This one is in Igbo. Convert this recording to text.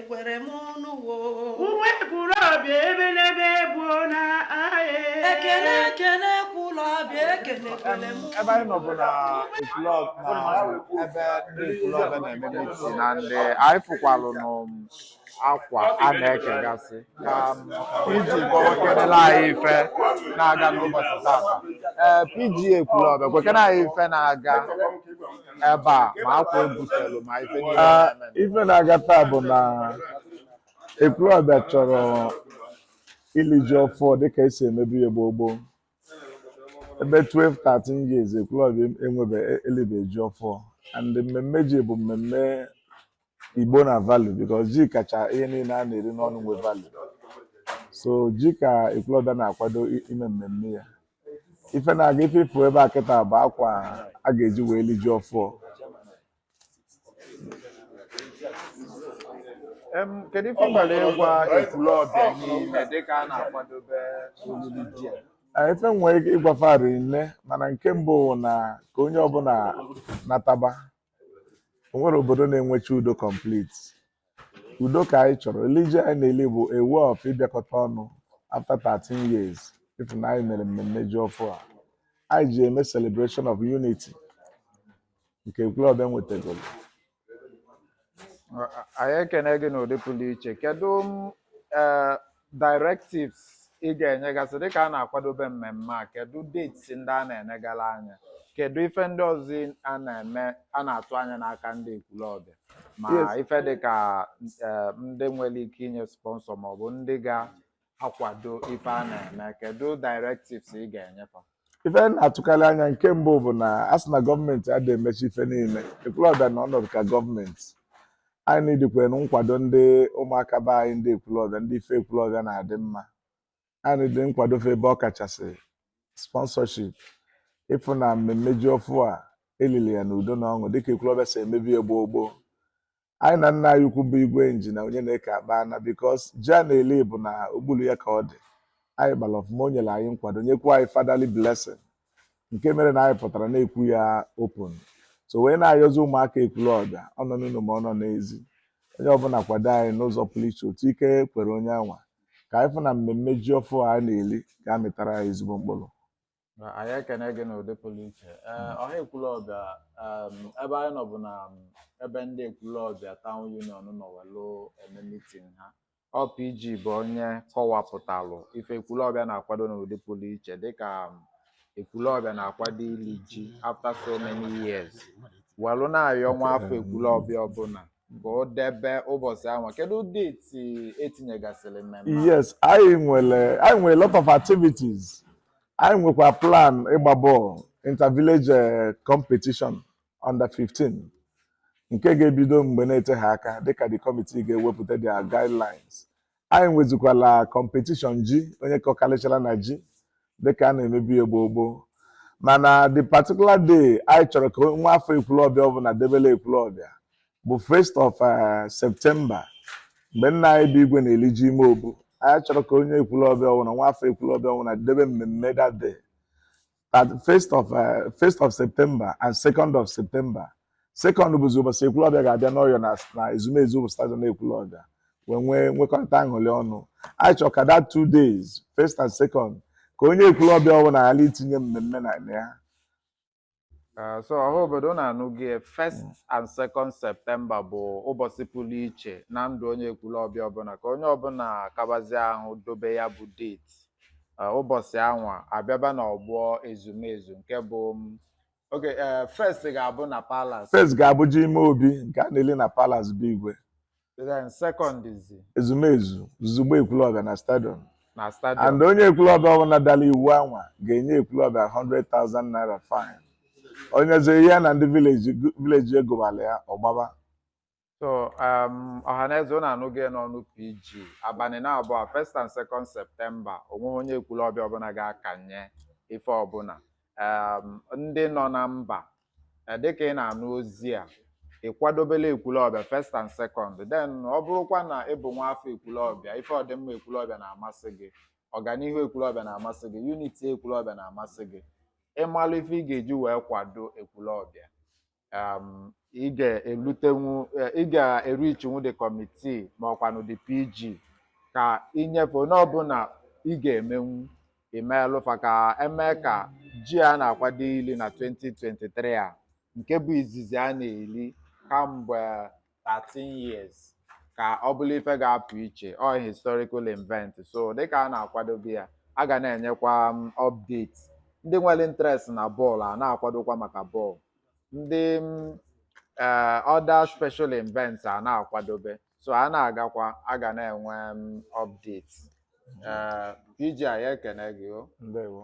ekwere m n'ụwa ekwulọbịa ebe n'ebe bụ na ahịa ekele ekele ekwulọbịa ekele ekele m ebe anyị nọ bụ na ekwulọbịa na ebe ndị ekwulọbịa na-eme meeting na ndị anyị fụkwalụ n'akwa a na-ekegasị ka um, pg kọwakenela anyị ife na-aga n'ụbọchị tata ee pg ekwulọbịa gwakene anyị ife na-aga ebe a ma akwa ebutelu ma ife niile Ah, na-eme. ife na-aga taa bụ na ekwulọbịa chọrọ ili ji ọfụọ dịka esi emebu ya gboo gboo ebe 12 13 years ekwulọbịa enwebe elibe ji ọfụọ and mmemme ji bụ mmemme igbo na value because ji kacha ihe niile a na-eri n'ọnụ nwe value so ji ka ekwulọbịa na-akwado i- ime mmemme ya ife na-aga ife ị fụ ebe a kịta bụ akwa a ga-eji wee li ji ọfụọ Em, kedu ife i nwere ịgwa ekwulọbịa niile dịka a na-akwadobe olili ji a? Ee, ife nwere ike ịgwa fa rị nne mana nke mbụ wụ na ka onye ọbụla nataba o nwerọ obodo na-enwecha udo complete udo ka anyị chọrọ olili ji anyị na-eli bụ a way of ịbịakọta ọnụ after 13 years ịfụ na anyị mere mmemme ji ọfụ a anyị ji eme celebration of unity nke ekwulọbịa nwetagoro anyị ekene gị n'ụdị pụrụ iche kedu m, eh, directives ị ga-enyegasị dịka a na-akwadobe mmemme a kedu dates ndị a na-enegala anya kedu ife ndị ọzọ a na-eme a na-atụ anya n'aka ndị ekwulọbịa ma ife dịka eh, ndị nwere ike inye sponsor maọbụ ndị ga-akwado ife a na-eme kedu directives ị ga-enye fa ife anyị na-atụkarị anya nke mbụ bụ na a sị na gọọmenti adịghị emecha ife niile ekwulọbịa na ọnọdụ ka gọọmenti anyị needikwanụ nkwado ndị ụmụaka be anyị ndị ekwulọbịa ndị ife ekwulọbịa na-adị mma anyị needi nkwado fa ebe ọ kachasị sponsorship ịfụ na mmemme ji ọfụ a elili ya n'udo na ọṅụ dịka ekwulọbịa si emebu ya gboo gboo anyị na nna anyị ukwu bụ igwe engineer onyeneke akpaana because ji a na-eli bụ na okpuru ya ka ọ dị anyị kpara ọfụma o nyere anyị nkwado nyekwa anyị fatherly blessing nke mere na anyị pụtara na-ekwu ya open so wee na-ayọzi ụmụaka ekwulọbịa ọ nọ n'ụlọ ma ọ nọ n'ezi onye ọbụla kwado anyị n'ụzọ pụrụ iche otu ike kwere onye anwa ka anyị fụ na mmemme ji ọfụ a na-eli ga-amịtara anyị ezigbo mkpụrụ Na anyị ekene gị n'ụdị pụrụ iche ee ọha ekwulọbịa em, ebe anyị nọ bụ na em, ebe ndị ekwulọbịa town union nọ welụ eme meeting ha ọ PG bụ onye kọwapụtalụ ife ekwulọbịa na-akwado n'ụdị pụrụ iche dịka em, ekwulọbịa na-akwado ili ji after so many years welụ na-ayọ nwa afọ ekwulọbịa ọbụla ka o debe ụbọchị anwa kedu date e tinyegasịrị mmemme a? yes anyị nwere anyị nwere lot of activities anyị nwekwa plan ịgba bọọlụ intervillage eh, competition under 15 nke ga-ebido mgbe na-eteghị aka dịka the committee ga-ewepụta their guidelines anyị nwezikwala competition ji onye kọkarịchara na ji dịka a na-emebu ya gboo gboo mana the particular day anyị chọrọ ka nwa afọ ekwulọbịa ọbụla debele ekwulọbịa bụ first of uh, September mgbe nna anyị bụ igwe na-eli ji ime obu anyị chọrọ ka onye ekwulọbịa ọbụla nwa afọ ekwulọbịa ọbụla debe mmemme that day that first of uh, first of September and second of September second bụzi ụbọchị ekwulọbịa ga-abịa n'ọgbọ na na ezumezu bụ stadium ekwulọbịa wee nwee nwekọrịta aṅụrị ọnụ anyị chọrọ ka that two days first and second ka onye ekwulọbịa ọbụla ghara itinye mmemme na ya Ah, so ọha obodo unu anụgo ya, first and second September bụ ụbọchị pụrụ iche na ndụ onye ekwulọbịa ọbụla ka onye ọbụla kabazie ahụ dobe ya bụ date Ah, ụbọchị anwa abịaba n'ọgbọ ezumezu nke bụ m, okay eh, first ga-abụ na palace First ga-abụ ji ime obi nke a na-eli na Palace be igwe. Then second is ezumezu zuzugbe ekwulọbịa na stadium na stadium. and onye ekwulọbịa ọbụla dara iwu anwa ga-enye ekwulọbịa 100,000 naira fine onye zere ihe na ndị village egobala ya ọgbaba So um, Ọhaneze unu anụgo ya n'ọnụ PG abalị na abụọ first and second September o nweghị onye ekwulọbịa ọbụla ga-akanye ife ọbụla um, ndị nọ na mba Eh, dịka ị na-anụ ozi a ị kwadobe ịla ekwulọbịa first and second then ọ bụrụkwa na ị bụ nwa afọ ekwulọbịa ife ọdịmma ekwulọbịa na-amasị gị ọganihu ekwulọbịa na-amasị gị unity ekwulọbịa na-amasị gị ị malụ ife ị ga-eji wee kwado ekwulọbịa um, ị ga-elutenwu eh, ị ga-erichinwu the committee ma ọkwanụ the PG ka i nye ife ọbụla ị ga-emenwu i meelụ fa ka e mee ka ji a na-akwado ili na 2023 a nke bụ izizi a na-eli kamgbe 13 years ka ọ bụrụ ife ga-apụ iche ọ historical event so dịka a na-akwadobe ya a ga na-enyekwa um, update ndị nwere interest na bọọlụ a na-akwadokwa maka bọọlụ ndị um, eh, other special events a na-akwadobe so a na-agakwa a ga na-enwe m update Eh, PG a ya ekene gị o ndewo